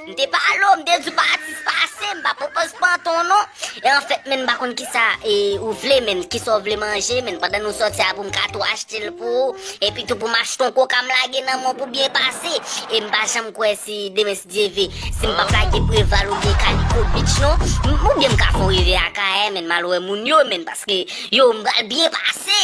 M te pale w, m te di w pa atis pase, m pa pran pòz panton non. E anfèt menn m pa konn kisa ou vle menn, kisa w vle manje menn pandan nou sòti a pou m ka tou achte l pou ou. Epi tou pou m achte yon koka m lage nan men w pou w byen pase. E m pa janm kwè si demen si Dye ve, si m pap lage Preval oubyen Kaliko Beach non. Oubyen m ka fè yon rive Akayè menn m al wè moun yo menn paske yo m pral byen pase.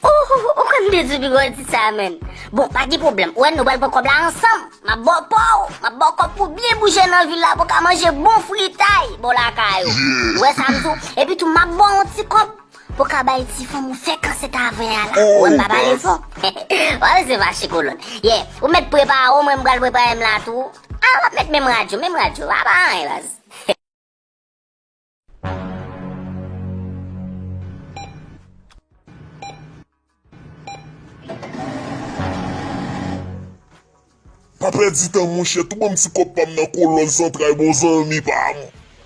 Ohh ou konn bezwen pi gwo tit sa menn. Bon pa gen pwoblèm ou wè nou pral pran kòb la ansanm. M ap ba w pa w, m ap ba w kòb pou w byen bouje nan vil la pou w ka manje bon fritay bò lakay ou. Ou wè sa m di w? Epi tou m ap ba w yon ti kòb pou w ka bay ti fanm ou fè kansèt avè a la. Ou wè m pa pale fò? Ou pa bezwen fache kolòn. Yè, ou mèt prepare w mwen m pral prepare m la tou. A, m ap met menm radyo, menm radyo. Pa pa anyen baz. Pa pèdi tan monchè tou banm ti kòb pam nan kolòn zantray bon zanmi pam.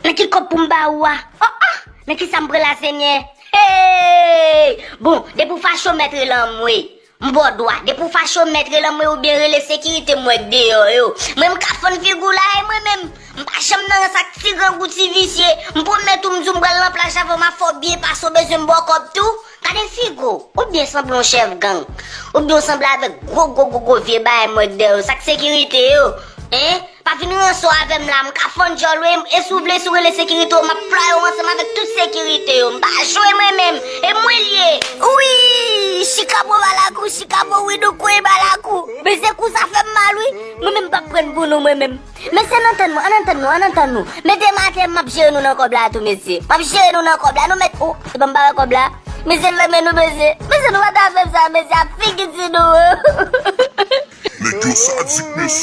Men ki kòb poum ba ou a. Oh oh men kisam pran la senyè hee bon depi ou fache ou mèt rele anmweyy M baw dwa, depi w fache w mèt rele anmwey oubyen rele sekirite m wè k deyò yo. Mwen m ka fann figu w la e mwen menm, m pa janm nan rans ak ti grangou ti visye, m pwomèt ou m di w m pral nan plaj avè w ma fè w byen pase w bezwen m ba w kòb tou? Gade figu w, ou byen sanble yon chèf gang, oubyen w sanble avèk gwo gwo gwo gwo vye bagay m wè k dèyè w yo, sa k sekirite yo? Hein? Pa vin ranson avèm la mka fann dyòl wi e si w vle si w rele sekirite w map flaye w ansanm avèk tout sekirite yo mpa jwe mwen menm e mwen l ye uiiiiii chikabo balakou chikabo widoo kwey balakou beze kou sa fèm mal wi mwen menm mpap prann pou nou mwen menm mesye ann antann nou ann antann nou ann antann nou men demen atè map jere nou nan kòb la tou mesye map jere nou nan kòb la nou mèt ooh se banm pa wè kòb la mesye m renmen nou mesye mesye nou pata fèm sa mesye ap figi ti nou ooh. Nèg yo sadik mesye.